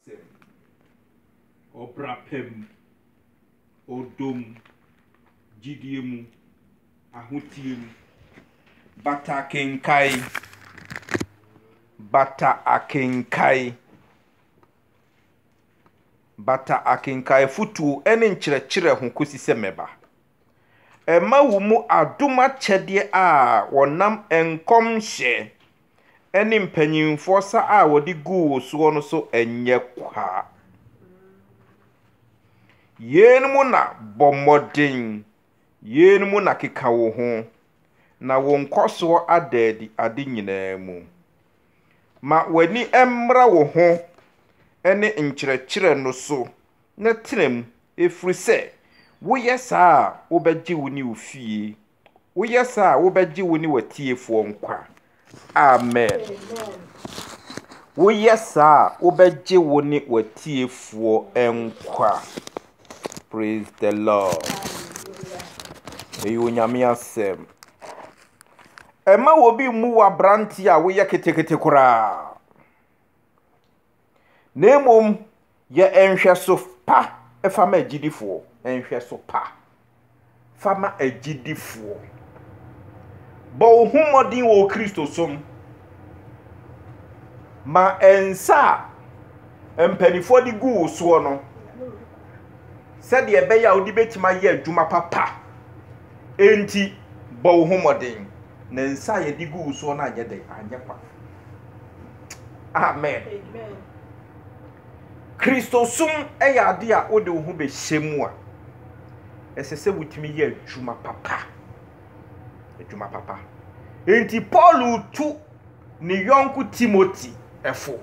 Sɛ ɔbra pa mu, ɔdɔ mu, gyidie mu, ahoteɛ mu. Bata akenkae, bata akenkae, bata akenkae afotuo ne nkyerɛkyerɛ ho kɔsi sɛ mɛba. Ɛma wo mu adom akyɛdeɛ a wɔnam nkɔmhyɛ ne mpanimfoɔ sa a wɔde guu wo soɔ no so nyɛ kwa. Yeinom na bɔ mmɔden, yeinom na keka wo ho, na wo nkɔsoɔ ada adi ade nyinaa mu. Ma w'ani mmra wo ho ne nkyerɛkyerɛ no so na tena mu, ɛfiri sɛ woyɛ saa a, wobɛgye wo ne wo fie Woyɛ saa a, wobɛgye wo ne w'atiefoɔ nkwa. Amen. Woyɛ saa a, wobɛgye wo ne w'atiefoɔ nkwa. Praise the Lord. Ɛyɛ Onyame asɛm. Ɛma obi mmu w'aberante a woyɛ ketekete koraa. na mmom yɛ nhwɛso pa fa ma agyidifoɔ. Nhwɛso pa fa ma agyidifoɔ. Bɔ wo ho mmɔden wɔ Kristosom. Ma nsa a mpanimfoɔ de gu wo soɔ no, sɛdeɛ ɛbɛyɛ a wode bɛtumi ayɛ adwuma papa. Enti bɔ wo ho mmɔden. Na nsa a yɛde gu wo soɔ no anyɛ dɛn? Anyɛ kwa. Amen. Kristosom yɛ ade a wode wo ho bɛhyɛ mu a, ɛsɛ sɛ wotumi yɛ adwuma papa. Adwuma papa. Enti Paulo tu ne yɔnko Timoti ɛfo.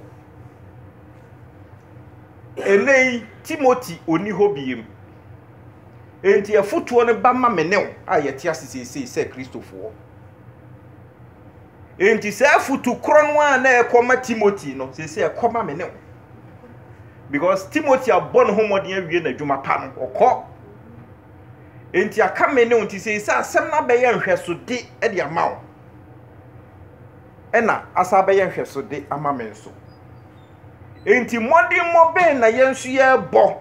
Ɛnɛ yi, Timoti ɔni hɔ biem. Enti ɛfotoɔ no ba ma me ne wo a yɛte ase seesei sɛ Kristofoɔ. Enti saa afotu korɔ no a na ɛkɔma Timothy no, sɛsɛ ɛkɔma me ne wo. Because Timothy abɔ ne ho mmɔden awie n'adwuma pa no, ɔkɔ. Enti aka me ne wo nti sɛsɛ asɛm no abɛyɛ nhwɛsode de ama wo. Ɛna asa abɛyɛ nhwɛsode ama me nso. Enti mmɔdemmɔ bɛn na yɛn nso yɛrebɔ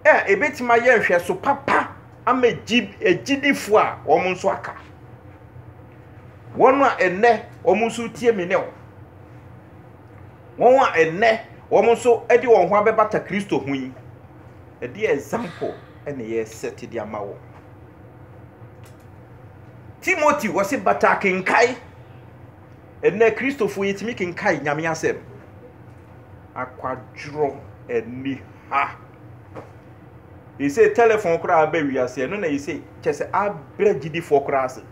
a ɛbɛtumi ayɛ nhwɛso papa ama agyidifo a wɔn nso aka, wɔn a ɛnnɛ wɔn nso retie me ne wo, wɔn a ɛnnɛ wɔn nso de wɔn ho abɛbata Kristo ho yi, ɛdeɛ example na yɛresɛte de ama wɔn. Timothy wɔsi bata akenkae, ɛnnɛ Kristofo yɛtumi kenkae nyame asɛm, akwadworɔ ani ha. Ese telephone koraa aba wiase ɛno na ese kyɛ sɛ abrɛ gyidifoɔ koraa ase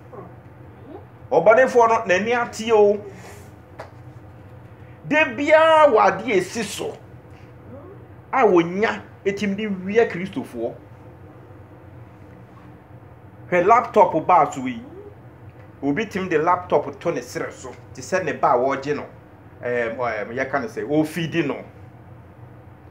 ɔbɔnefoɔ no n'ani ateɛ o de biara wɔ adeɛ esi so a wɔnya etim de wia kristofoɔ hwɛ laptop baa so yi obi tim de laptop to ne serɛ so te sɛ ne ba a wɔregye no ɛɛm ɛɛm yɛka no sɛ ofidi no.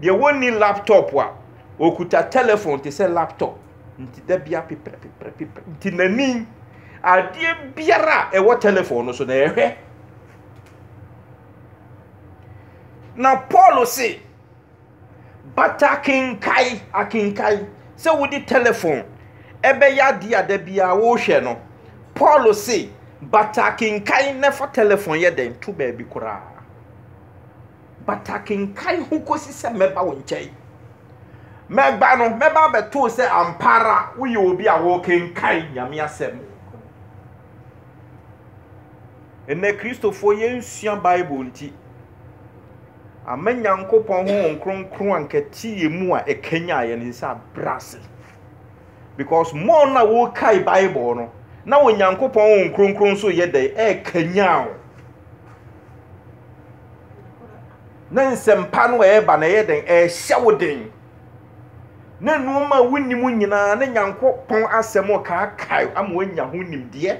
Deɛ wɔnni laptop a, ɔkuta telephone te sɛ laptop. Nti da bia peprɛpeprɛpeprɛ. Nti n'ani, adeɛ biara a ɛwɔ telephone no so na ɛhwɛ. Na Paul se, but akenkae, akenkae, sɛ wode telephone ɛbɛyɛ adeɛ a da bia wohwɛ no. Paul se, but akenkae na fa telephone yɛ dɛn to baabi koraa. Pataki nkae ho kosi sɛ mɛba wo nkyɛn. Mɛba no, mɛba abɛtoo sɛ ampa ara woyɛ obi a wokenkan Nyame Asɛm. Nnɛ Kristofoɔ yɛnsua Bible nti, ama Nyankopɔn Honhom Kronkron ankɛte yɛn mu a ɛkanyan yɛn nsa abrɛ ase. Because more na wokae Bible no, na Onyankopɔn Honhom Kronkron nso yɛ dɛn? Ɛkanyan wo. na nsɛmpa no a ɛreba no ɛyɛ dɛn ɛrehyɛ wo den na nneɛma a wonim nyinaa ne nyankopɔn asɛm kaakae ama woanya ho nimdeɛ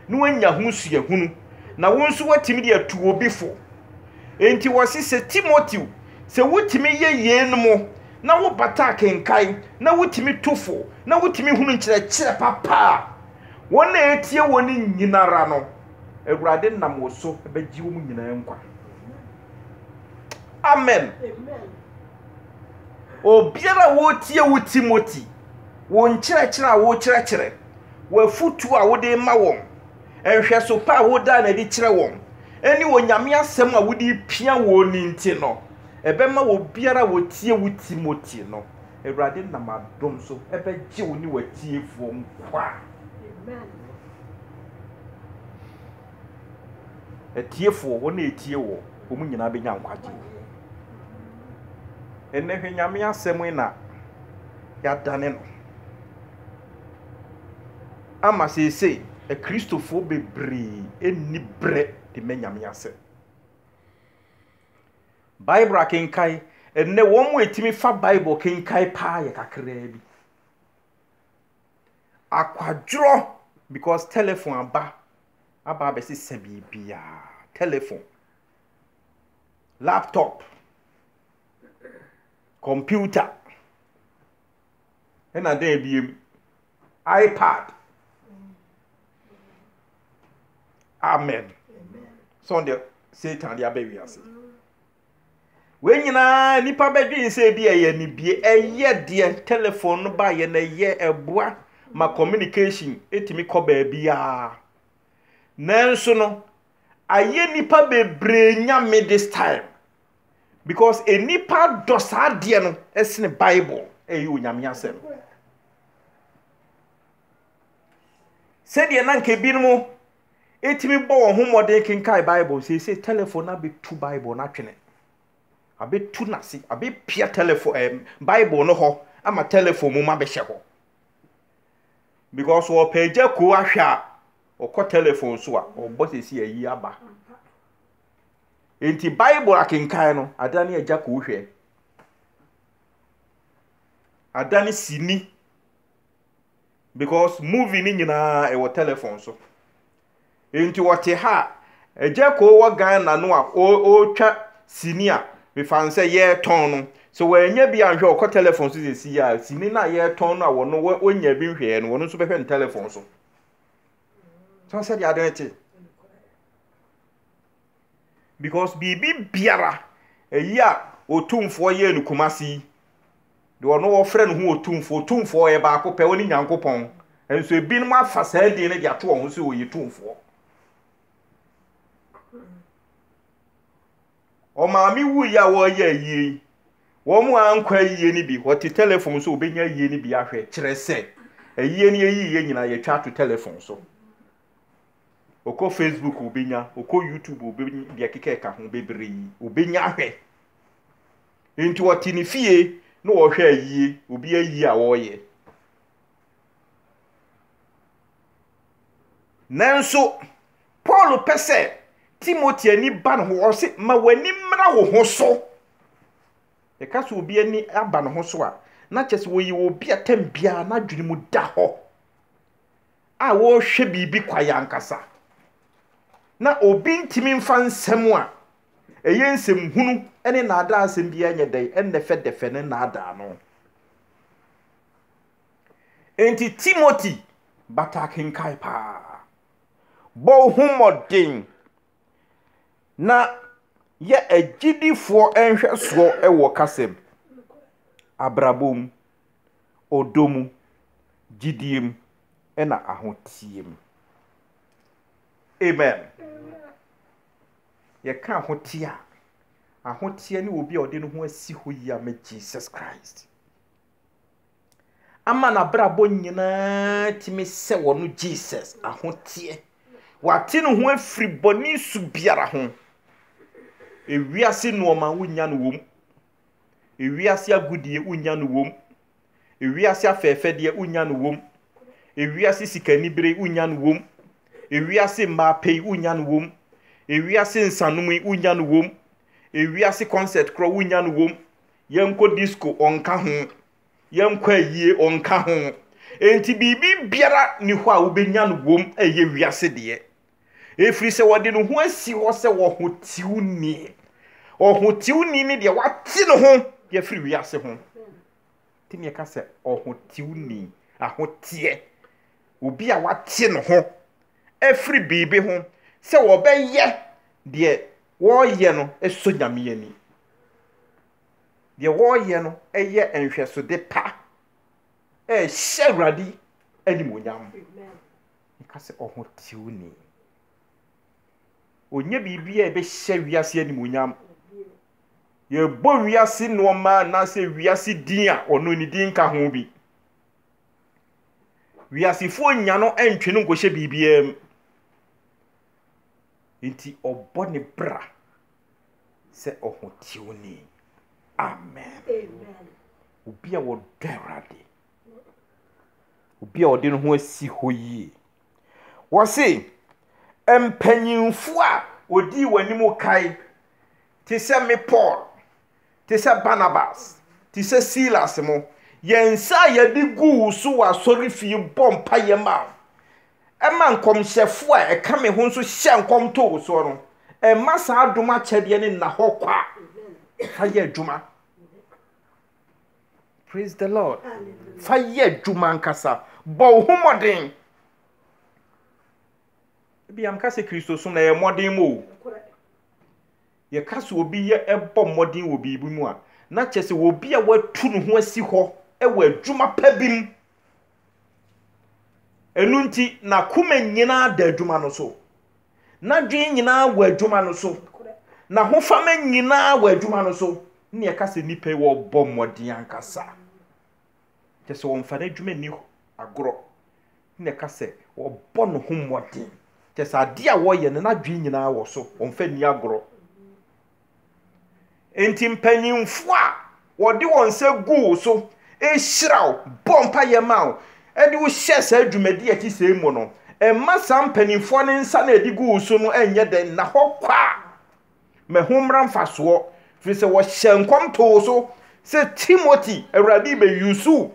na woanya ho suahunu na wo nso woatumi de atu obi fo enti wɔse sɛ timoteo sɛ wotumi yɛ yeinom na wobata akenkan na wotumi tu fo na wotumi hunu nkyerɛkyerɛ papa a wɔn a ɛtie wɔ no nyinara no Awurade nam wo so bɛgye wɔn nyinaa nkwa. Amen. Obiara a wotie wo Timothy, wo nkyerɛkyerɛ a wokyerɛkyerɛ, w'afotu a wode ma wɔn, nhwɛso pa a wodaa no adi kyerɛ wɔn, ne onyame asɛm a wode pia wɔn ni nti no, ɛbɛma obiara a wotie wo Timothy no, Awurade nam adom so ɛbɛgye wo ne w'atiefoɔ nkwa. Amen. Atiefoɔ, wɔn a wɔtie woɔ, wɔn nyinaa bɛnya nkwagyeɛ. Ɛnnɛ hwɛ Nyame asɛm yi na yɛadane no ama seesei Akristofoɔ bebree nni berɛ de ma Nyame asɛm. Bible akenkan, ɛnnɛ wɔn a wɔtumi fa Bible kenkan paa yɛ kakraa bi. Akwadworɔ because telephone aba aba abɛsesa biribiara. Telephone, laptop, computer, ɛna dɛn biem, iPad. Amen. Sɛ ɔde Satan de aba wiase. Wei nyinaa nnipa bɛdwen sɛ ebi ɛyɛ anibie, ɛyɛ deɛ telefon no baeɛ na ɛyɛ ɛboa ma communication ɛtumi kɔ baabiara. Nanso no, ayɛ nnipa bebree nyame this time because nnipa dɔ saa deɛ no ɛsene Bible ɛyɛ onyame asɛm. Sɛdeɛ na nka ebinom tumi bɔ wɔn ho mmɔden kenkan Bible. Seesei telefon no abɛtu Bible no atwene. Abɛtu no ase, abɛpia telefon eh, Bible no hɔ ama telefon mu ma bɛhyɛ hɔ. Because wɔpɛ agya kuo ahwɛ a, ɔkɔ telefon so a, ɔbɔ sɛsi ayi aba. Nti Bible akenkan no, ada ne agya kuo hwɛ. Ada ne sini because movie no nyinaa ɛwɔ telephone so nti wɔte ha a agya koo wɔ ghana no a ɔretwa sini a mefa no sɛ yɛretɔn no sɛ wɔanya bi anhwɛ ɔkɔ telephone so sɛ si a sini no a yɛretɔn no a wɔno wɔnya bi nhwɛɛ no wɔno nso bɛhwɛ no telephone so sɛ sɛdeɛ ade no te because biribi biara ɛyi a ɔtumfoɔ yɛɛ no kumase yi deɛ ɔno wɔfrɛ no ho Otumfoɔ, Otumfoɔ ɔyɛ baako pɛ, ɔne Nyankopɔn, nso ebinom afa saa din no de ato wɔn ho sɛ wɔyɛ Tumfoɔ. Ɔmaame wuiɛ a wɔreyɛ ayie yi, wɔn a ankɔ ayie no bi, wɔte telefon so wɔbɛnya ayie no bi ahwɛ, kyerɛ sɛ ayie no yɛyiiɛ nyinaa yɛtwa ato telefon so. Ɔkɔ Facebook wɔbɛnya, ɔkɔ YouTube wɔbɛnya, deɛ keka ɛka ho bebree wɔbɛnya ahwɛ. Enti ɔte ne fie na ɔhwɛ ayie, obi ayie a ɔreyɛ. Nanso, Paul pɛ sɛ Timothy ani ba ne ho. Ɔse, ma w'ani mmra wo ho so. Ɛka sɛ obi ani aba ne ho so a, na kyerɛ sɛ ɔyɛ obi a tam biara n'adwene mu da hɔ a ɔrehwɛ biribi kwae ankasa. Na obi ntumi mfa nsɛm a Ɛyɛ nsɛm hunu ne nnaadaa asɛm biara nyɛ dɛn ɛnnɛ fɛdɛfɛ no nnaadaa no. Enti Timothy bata akenkan paa. Bɔ wo ho mmɔden na yɛ agyidifoɔ nhwɛsoɔ wɔ kasa mu, abrabɔ mu, ɔdɔ mu, gyidie mu, ɛna ahoteɛ mu. Amen. Yɛka ahoteɛ a, ahoteɛ ne obi a ɔde ne ho asi hɔ yi ama Jesus Christ. Ama n'abrabɔ nyinaa tumi sɛ wɔ no Jesus ahoteɛ. Wate ne ho afiri bɔne su biara ho. Ewiase nnoɔma wonya no wɔ mu. Ewiase agudeɛ wonnya no wom, ewiase afɛɛfɛdeɛ wonnya no wom, ewiase sikanibere wonnya no wom, ewiase mmaa pɛ yi wonnya no wom, ewiase nsanom yi wonnya no wom, ewiase concert korɔ wonnya no wom, yɛnkɔ disco ɔnka ho, yɛnkɔ ayie ɔnka ho. Enti biribi biara ni hɔ a wobɛnya no wom ɛyɛ wiase deɛ. ɛfiri sɛ ɔde ne ho asi hɔ sɛ ɔhotewni. Ɔhotewni ne deɛ wate ne ho de afiri wiase ho. Tumi ɛka sɛ ɔhotewni, ahoteɛ, obi a wate ne ho afiri biribi ho sɛ ɔbɛyɛ deɛ wɔreyɛ no sɔ Nyame ani. Deɛ wɔreyɛ no yɛ nhwɛsode pa, ɛhyɛ Awurade animuonyam. Meka sɛ ɔhoteuni. Ɔnyɛ biribi a ɛbɛhyɛ wiase animuonyam. Yɛbɔ wiase nnoɔma anaasɛ wiase din a, ɔno ne din nka ho bi. Wiasefoɔ nnya no ntwe no nkɔhyɛ biribiara mu. Nti ɔbɔ ne bra sɛ ɔhoteuni. Amen. Obi a wɔdɔ Awurade. Obi a ɔde ne ho asi hɔ yie. Wɔse mpanyimfo a wɔdii w'anim kae te sɛ me Paul, te sɛ Barnabas, te sɛ Silas mo, yɛn nsa a yɛde gu wo so wɔ asɔrefie bɔ mpaeɛ ma wo. Ɛma nkɔmhyɛfo a ɛka me ho nso hyɛ nkɔm to wo soɔ no, ɛma saa dom akyɛdeɛ no nna hɔ kwa a, fa yɛ adwuma. Praise the Lord. Fa yɛ adwuma ankasa. Bɔ wo ho mmɔden. Ebi yam ka sɛ Kristosom na yɛ mmɔden mu o. Yɛka sɛ obi yɛ ɛbɔ mmɔden wɔ biribi mu a, na kyerɛ sɛ obi a watu ne ho asi hɔ wɔ adwuma pa bi mu. Ɛno nti, n'akoma nyinaa da adwuma no so. N'adwene nyinaa wɔ adwuma no so. N'ahofama nyinaa wɔ adwuma no so. Ne ɛka sɛ nnipa yi wɔbɔ mmɔden ankasa. Kyɛ sɛ wɔmfa n'adwuma nni agorɔ. Ne ɛka sɛ wɔbɔ ne ho mmɔden. Kyɛ sɛ adeɛ a wɔyɛ no n'adwene nyinaa wɔ so. Wɔmfa nni agorɔ. Enti mpanyimfo a wɔde wɔn nsa gu wo so hyira wo, bɔ mpaeɛ ma wo, de wo hyɛ saa dwumadi a ɛte sɛɛ mu no, mma saa mpanimfoɔ no nsa no a ɛde gu wo so no nyɛ dɛ nna hɔ kwa. Ma ɛho mmra mfasoɔ, firi sɛ wɔhyɛɛ nkɔm too wo so sɛ, Timoti, Awurade rebɛyusu wo.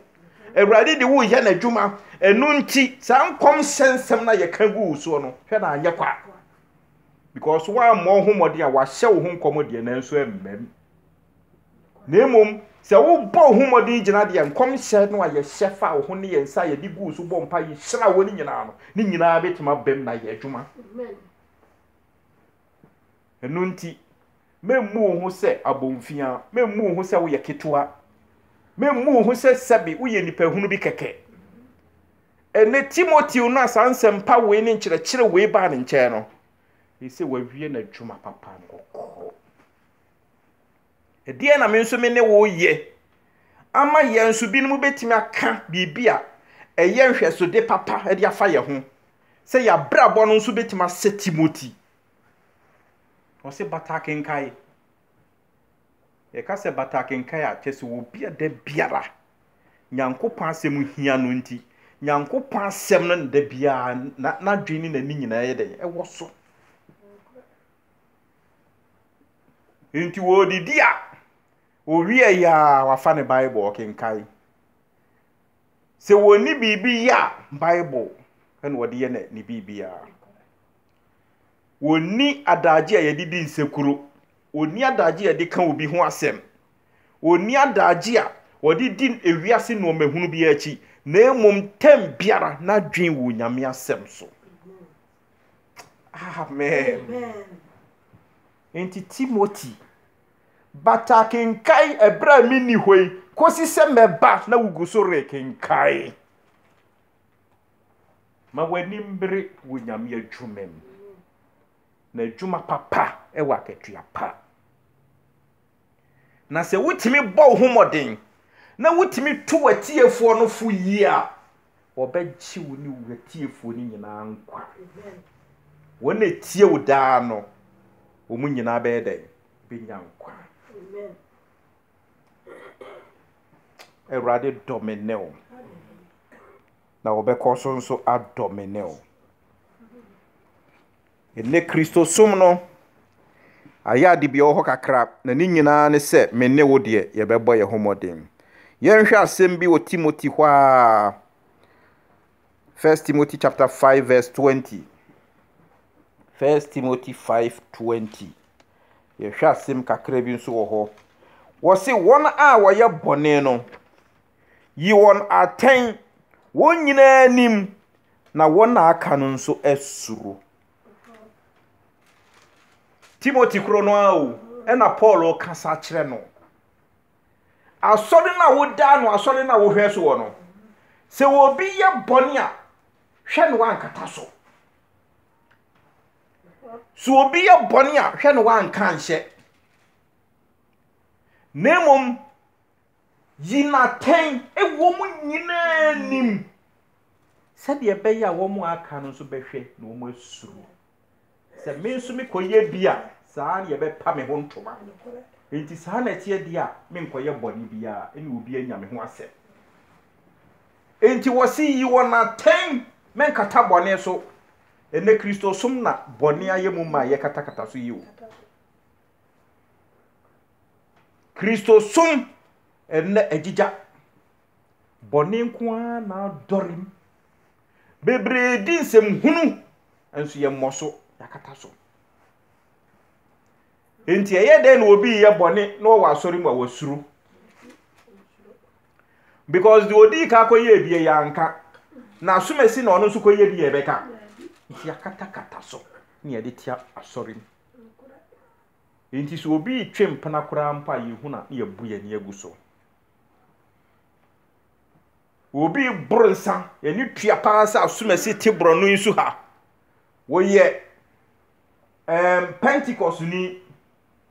Awurade de wo reyɛ n'adwuma. Ɛno nti, saa nkɔmhyɛ nsɛm no a yɛka gu wo soɔ no, hwɛ na anyɛ kwa. Because woammɔ wo ho mmɔden a wɔahyɛ wo ho nkɔm deɛ nanso ɛmmam. Na mmom sɛ wobɔ wo ho mmɔden gyina deɛ nkɔmhyɛ no a yɛhyɛ fa wo ho ne yɛn nsa a yɛde gu wo so bɔ mpa yi hyira wɔ no nyinaa no, ne nyinaa bɛtumi abam na ayɛ adwuma. Ɛno nti, memmu wo ho sɛ abomfiaa, memmu wo ho sɛ woyɛ ketewa, memmu wo ho sɛ sɛbe woyɛ nipahunu bi kɛkɛ. Ɛnnɛ Timoteo no a saa nsɛmpa wei ne nkyerɛkyerɛ wei baa ne nkyɛn no, ɛyɛ sɛ wawie n'adwuma papa no kɔkɔɔ. Ɛdeɛn na me nso me ne wo yɛ ama yɛn nso binom bɛtumi aka biribi a ɛyɛ nhwɛsode papa de afa yɛn ho sɛ yɛabrabɔ no nso bɛtumi asɛ Timoteo? Ɔse bata akenkae. Yɛka sɛ bata akenkan a, kyerɛ sɛ wɔ obi a da biara Nyankopɔn asɛm hia no nti, Nyankopɔn asɛm no da biara n'adwene ne n'ani nyinaa yɛ dɛn? Ɛwɔ so. Nti wɔredidi a, owie yɛ a wafa ne Bible ɔkenkan. Sɛ wɔnni biribi yɛ a, Bible na wɔde yɛ ne biribiara. wɔnni adagye a yɛde di nsekuro, wɔnni adagye a yɛde ka obi ho asɛm, wɔnni adagye a wɔde di ewiase nneɛma hunu biara akyi, na mmom tɛm biara n'adwene wɔ Nyame asɛm so. Amen. Amen. Enti Timothy, bata kenkae ɛberɛ a menni hɔ yi, kɔsi sɛ mɛba na wogu so rekenkae. Ma w'anim bere wɔ Nyame adwuma mu Na adwuma papa wɔ akatua pa Na sɛ wotumi bɔ wo ho mmɔden Na wotumi to w'atiefoɔ no fo yie a Wɔbɛgye wo ne w'atiefoɔ no nyinaa nkwa Wɔn a ɛtie wo daa no Wɔn nyinaa bɛyɛ dɛn? Bɛnya nkwa Awurade dɔ me ne wo, na wɔbɛkɔ so nso adɔ me ne wo. Ɛnɛ Kristosom no ayɛ ade bi wɔ hɔ kakra, na ne nyinaa ne sɛ me ne wo deɛ yɛbɛbɔ yɛn ho mmɔden. Yɛnhwɛ asɛm bi wɔ Timothy hɔ a, 1 Timothy chapter 5 verse 20. 1 Timothy 5 20. Yɛhwɛ asɛm kakra bi nso wɔ hɔ. Wɔse wɔn a wɔyɛ bɔne no, yi wɔn atɛn, wɔn nyinaa nim, na wɔn a aka no nso suro. Timothy koro no ara o, ɛna Paul kasa kyerɛ no. Asɔre no a wodaa no, asɔre no a wohwɛ so wɔ no, sɛ obi yɛ bɔne a, hwɛ no ankata so. So obi yɛ bɔne a hwɛ na wanka anhyɛ, na mmom yi no atɛn wɔ wɔn nyinaa anim, sɛdeɛ ɛbɛyɛ a wɔn a aka no nso bɛhwɛ na wɔn asuro sɛ me nso mekɔyɛ bi a saa na yɛbɛpa me ho ntoma. Enti saa na ɛteɛ deɛ a menkɔyɛ bɔne biara ne obi anya me ho asɛm. Enti wɔsi yi wɔn atɛn mɛnkata bɔne so Ɛnnɛ Kristosom na bɔne ayɛ mu ma a yɛkatakata so yi o. Kristosom ɛnnɛ agyigya. Bɔne nko ara na adɔre mu. Bebree di nsɛm hunu, nso yɛmmɔ so, yɛakata so. Enti ɛyɛ dɛn na obi yɛ bɔne na ɔwɔ asɔre mu a wasuro? because deɛ ɔdii ka kɔyɛɛ bie yɛ anka na asomasi na ɔno nso kɔyɛ bi yɛ bɛka nti yɛakatakata so ne yɛde tia asɔre mu nti sɛ obi retwe mpena koraa mpo a yɛhu na ne yɛbu yɛn ani agu so obi boro nsa yɛne tua paa sɛ asomasi te borɔno yi so ha wɔyɛ um, pentecost ni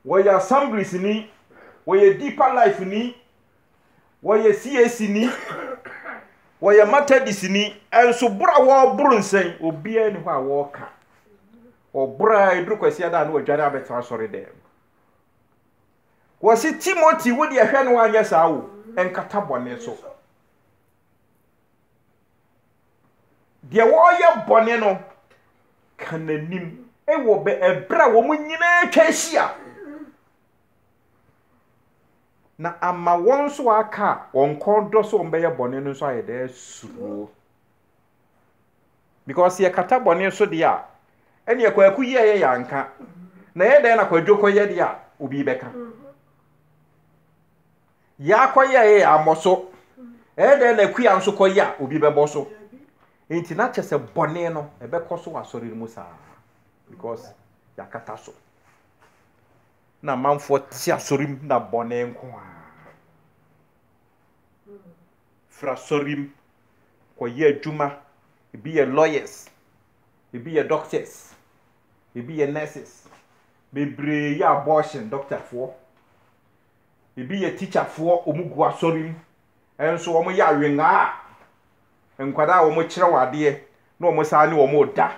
wɔyɛ assemblies ni wɔyɛ deeper life ni wɔyɛ CAC ni, wɔyɛ Methodist ni, ɛnso boro a wɔboro nsɛn, obiara ni hɔ a wɔka. Wɔboro a ɛduru kwasia da a na wɔadwane abɛtena asɔre dɛm. Wɔsi Timothy wo deɛ hwɛ no anyɛ saa o, ɛnkata bɔne so. Deɛ wɔyɛ bɔne no ka n'anim wɔ bɛ ɛberɛ a wɔn nyinaa atwa ahyia. Na ama wɔn nso wɔaka a wɔn kɔn dɔ sɛ wɔbɛyɛ bɔne no nso ayɛ dɛ asuro. Because sɛ yɛkata bɔne so deɛ a, ɛneɛ Kwaku yi a ɛyɛ yɛanka, na ɛyɛ dɛn na Kwadwo kɔyɛ deɛ a obi bɛka? Yɛakɔyɛ a ɛyɛ yɛammɔ so, ɛyɛ dɛn na Akua nso kɔyɛ a obi bɛbɔ so? Nti na kyɛ sɛ bɔne no ɛbɛkɔ so wɔ asɔre no mu saa because yɛakata so. Na amanfoɔ te asɔre mu na bɔne nko ara. Firi asɔre mu kɔyɛ adwuma. Ebi yɛ lawyers, ebi yɛ doctors, ebi yɛ nurses. Bebree yɛ abortion doctorfoɔ. Ebi yɛ teacherfoɔ, wɔgu asɔre mu. Nso wɔyɛ awengaa a nkwadaa a wɔkyerɛ wɔn adeɛ na wɔsan ne wɔn reda.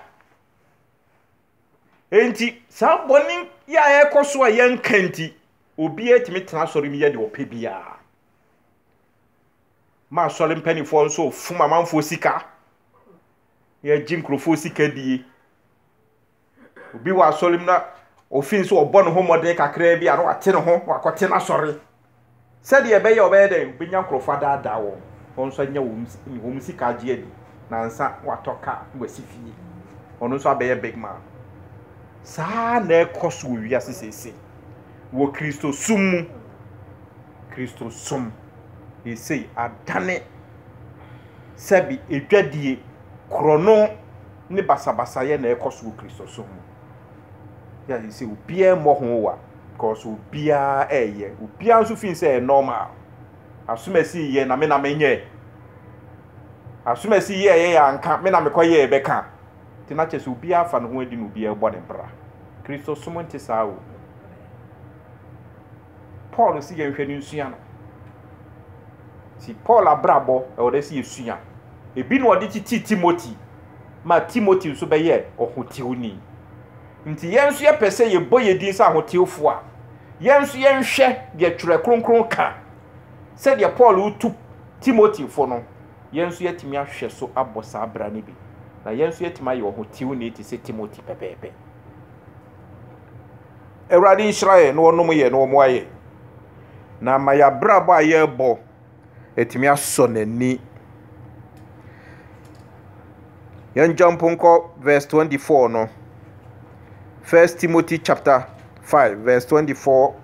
Enti saa bɔne yi a ɛrekɔ so a yɛnka nti, obiara tumi tena asɔre mu yɛ deɛ ɔpɛ biara. Ma asɔre mpanimfoɔ nso fom amanfoɔ sika. Yɛgye nkurɔfoɔ sika die. Obi wɔ asɔre mu na ofin sɛ ɔbɔ ne ho mmɔden kakraa bi a na wate ne ho na wakɔte n'asɔre Sɛdeɛ ɛbɛyɛ a ɔbɛyɛ dɛn? Ɔbɛnya nkurɔfoɔ adaadaa wɔn, wɔn nso anya wɔn sika agye adi, na ansa watɔ car na wasi fie. Ɔno nso abɛyɛ big man. Saa ara na ɛrekɔ so wɔ wiase seesei, wɔ Kristosom mu. Kristosom seesei adane sɛbe adwadie, korɔno ne basabasayɛ na ɛrekɔ so wɔ Kristosom mu. Yɛ a seesei obiara mmɔ ho wa. Because obiara ɛyɛ, obiara nso feel sɛ ɛyɛ normal. Asumasi yɛ na me na menyɛ. Asumasi yɛ yɛ anka me na mekɔ yɛ ɛbɛka. Nti na kyɛ sɛ obiara afa ne ho adi na obiara ɛbɔ ne bra. Kristosom nte saa o. Paul si yɛn hwɛ no nsua no. Si Paul abrabɔ ɛwɔ dɛ si yɛ sua. Ebi na ɔde titi Timothy ma Timothy nso bɛyɛ ɔhotiwni. Nti yɛn nso yɛpɛ sɛ yɛbɔ yɛn din sɛ ahotewfo a, yɛn nso yɛnhwɛ deɛ Twerɛ Kronkron ka. Sɛdeɛ Paul retu Timothy fo no, yɛn nso yɛatumi ahwɛ so abɔ saa bra no bi, na yɛn nso yɛatumi ayɛ ɔhotewni te sɛ Timothy pɛpɛɛpɛ. Awurade nhyira yɛn na ɔnom yɛn na ɔmmoa yɛn, na ama yɛn abrabɔ a yɛrebɔ. atumi asɔ n'ani. Yɛn jump nkɔ verse twenty four no. First Timothy chapter five verse twenty four.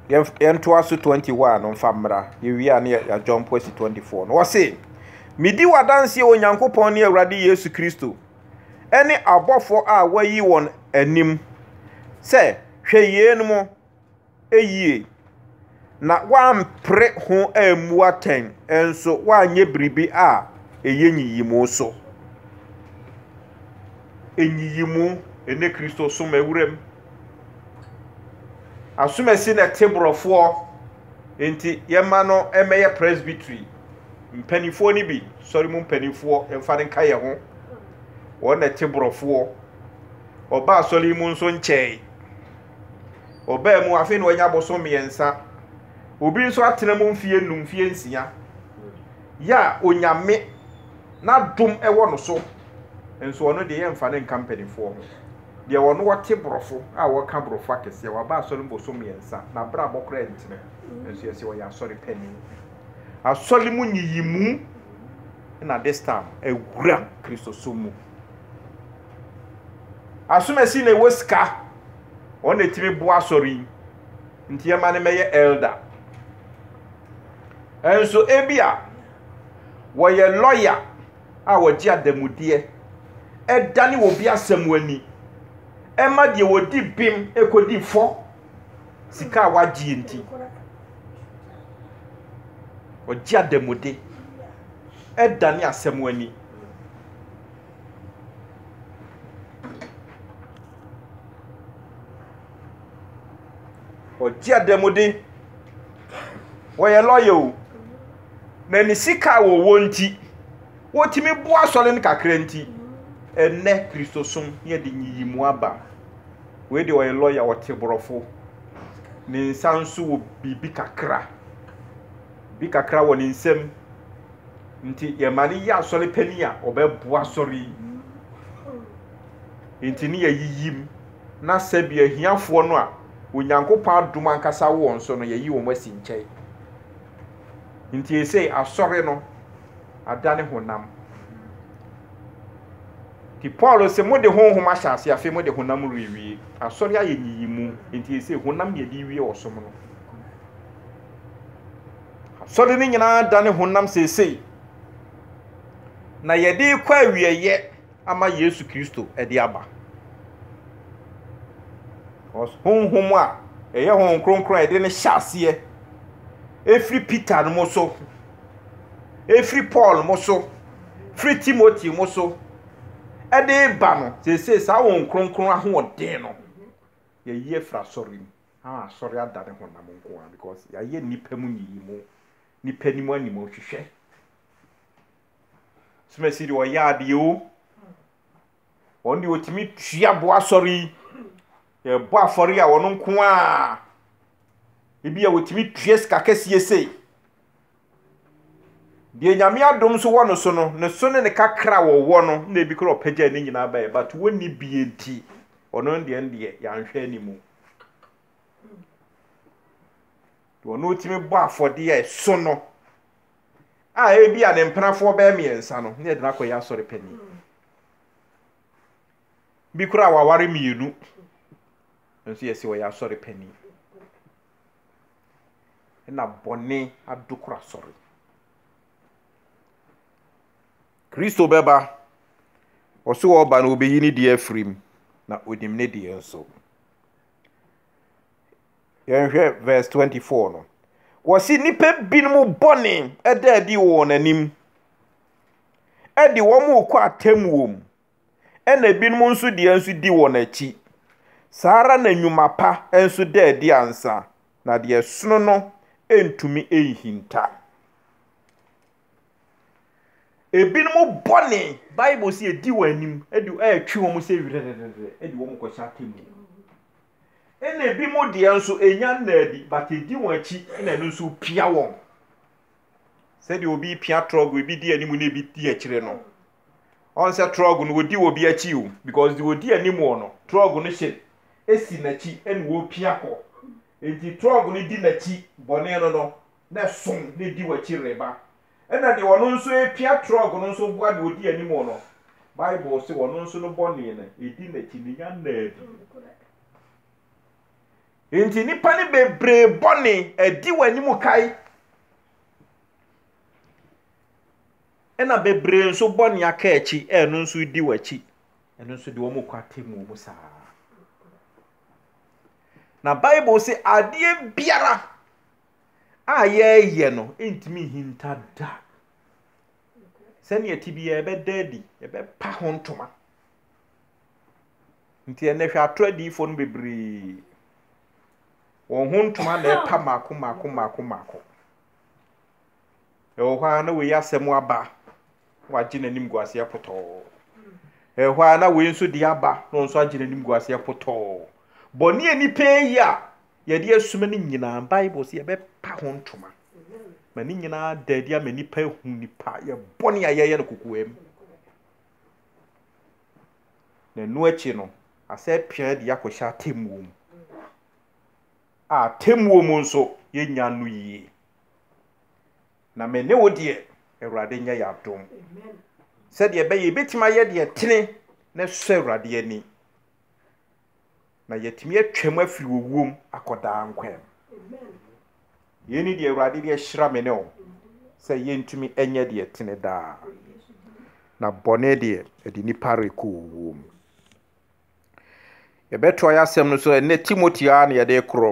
yɛntoa so 21 no mfa mmra yɛwie a ne yɛadwɔmpo asi 24 no wɔse medi w'adanseɛ onyankopɔn ne awurade yesu kristo ne abɔfo a wɔayi wɔn anim sɛ, Hwɛ yeinom yie, na wɔampere ho ammu atɛn nso wɔanyɛ biribi a ɛyɛ nyiyimu so. Nyiyimu ne Kristosom awuram. Asomasi na ɛte borɔfoɔ, nti yɛmma no mmɛyɛ presbytery. mpanimfoɔ no bi sɔre mu mpanimfoɔ mfa no nka yɛn ho wɔn na ɛte borɔfoɔ ɔbaa sɔre mu nso nkyɛe ɔbaa mu afei na wanya aboso mmiɛnsa obi nso atena mu mfie num mfie nsia yɛ a onyame n'adom ɛwɔ no so nso ɔno deɛ yɛmfa no nka mpanimfoɔ ho deɛ wɔn wɔte borɔfo a wɔka borɔfo akɛseɛ wɔaba asɔre mu boso mmiɛnsa na abra abɔkora ntene nso yɛsɛ ɔyɛ asɔre panin Asɔre mu nyiyimu na this time awura Kristosom mu. Asomasi na ɛwɔ sika, wɔn na ɛtumi boa asɔre yi, nti ɛma no mɛyɛ elder. Nso ebi a wɔyɛ lawyer a wɔgye adamudeɛ, ɛdane obi asɛm ani, ɛma deɛ wɔdi bem ɛkɔdi fɔ. sika a wagyeɛ nti, ɔgye adamude ɛdane asɛm ani. Ɔgye adamude, wɔyɛ lɔya o, na ne sika a wɔwɔ nti, wɔtumi boa asɔre no kakra nti, ɛnɛ Kristosom yɛde nyiyimu aba. Wei deɛ ɔyɛ lɔya ɔte borɔfo. Ne nsa nso wɔ biribi kakra. Bi kakra wɔ ne nsam. Nti yɛma no yɛ asɔre panin a ɔbɛboa asɔre yi. Nti ne yɛyiyim na sɛbi ahiafoɔ no a Onyankopɔn adom ankasa wɔ wɔn so no yɛyi wɔn asi nkyɛn. Nti esei asɔre no adane honam. Nti Paul se, mode honhom ahyɛ aseɛ, afei mode honam rewie. Asɔre ayɛ nyiyimu, nti ɛsei honam ne yɛde wie ɔsom no. Asɔre no nyinaa dane honam seesei, na yɛde rekɔ awieɛ ama Yesu Kristo de aba. Honhom a ɛyɛ honhom kronkron a yɛde no hyɛ aseɛ ɛfiri Peter no mu so. firi Paul mo so, firi Timoteo mo so, de reba no, seesei saa wɔn kronkron ahoɔden no, yɛyi afiri asɔre mu. Ama asɔre ada ne honam nko ara because yɛayɛ nnipa mu nyiyimu, nnipa anim anim nhwehwɛ. Sumasi deɛ ɔyɛ adeɛ o, Wɔn deɛ wɔtumi tua boɔ asɔre yi. Yɛbɔ afɔre a wɔn nko a ebi a wɔtumi tua sika kɛseɛ sei. Deɛ nyame adom nso wɔ no so no ne so ne ne kakra a wɔwɔ no na ebi kora ɔpɛgya ne nyinaa bɛyɛ but wɔnni bie nti ɔno deɛ deɛ yɛanhwɛ anim. Deɛ ɔno tumi bɔ afɔdeɛ a ɛso no a ebi a ne mpenafoɔ bɛyɛ mmiɛnsa no ne yɛde no akɔyɛ asɔre panyin. Bi koraa waware mmienu, nanso yɛse ɔyɛ asɔre panin. Ɛna bɔne adokoro asɔre. Kristo bɛba, ɔse ɔba no ɔbɛyi ne deɛ afiri mu, na ɔnim ne deɛ nso. Yɛnhwɛ verse 24 no. Wɔse nnipa binom bɔne da adi wɔ wɔn anim. de wɔn rekɔ atemmuo mu, ɛna ebinom nso deɛ nso di wɔn akyi. Saa ara na nnwuma pa nso da adi ansa, na deɛ ɛsono no ntumi nhinta. Ebinom bɔne, Bible sɛ edi wɔn anim, de ɛretwe wɔn sɛ werɛrɛrɛrɛ de wɔn kɔhyɛ atemmuo. Ɛna ebinom deɛ nso enya nna adi, but edi wɔn akyi na ɛno nso pia wɔn. sɛdeɛ obi repia trɔg ebi di anim na ebi di akyire no ɔn sɛ trɔg no odi obi akyi o because deɛ odi anim wɔ no trɔg no hyɛ esi n'akyi ɛna wɔrepia kɔ nti trɔg no di n'akyi bɔne no no na ɛso na edi w'akyi reba ɛna deɛ ɔno nso repia trɔg no nso boa deɛ odi anim wɔ no bible se ɔno nso no bɔne no edi n'akyi ne nya nnaa bi Enti nnipa no bebree bɔne adi w'anim kae, ɛna bebree nso bɔne aka akyi, ɛno nso redi w'akyi. Ɛno nso de wɔn kɔ atemmuo mu saa. Na Bible se adeɛ biara a yɛreyɛ no ntumi nhinta da. Sɛnea ɛte biara ɛbɛda adi, ɛbɛpa ho ntoma. Nti ɛnnɛ hwɛ atorɔ adiyifoɔ no bebree. Wɔn ho ntoma na ɛpa mako mako mako mako. Ɛwɔ hɔ a na wei asɛm aba wagye n'anim gu aseɛ potɔɔ. Ɛwɔ hɔ a na wei nso deɛ aba na ɔno nso agye n'anim gu aseɛ potɔɔ. Bɔne a nipa yi a yɛde asuma no nyinaa Bible sɛ yɛbɛpa ho ntoma. Ma ne nyinaa da adi ama nipa ehu nipa yɛ bɔne a yɛyɛ no kokoam. Na ɛno akyi no, asɛ pia de akɔhyɛ atemmuo mu. A atemmuo mu nso, yɛnnya no yie. Na me ne wo deɛ, Awurade nyɛ yɛ adom. Sɛdeɛ ɛbɛyɛ yɛbɛtumi ayɛ deɛ ɛtene na ɛsɔ Awurade ani. na yɛatumi atwam afiri owuom akɔ daa nkwa mu. Yei ne deɛ Awurade de ahyira me ne wo sɛ yɛntumi nyɛ deɛ ɛtene daa, na bɔne deɛ ɛde nnipa rekɔ owuom. Yɛbɛtoa yɛn asɛm no so ɛnnɛ, Timoteo ara na yɛde rekorɔ.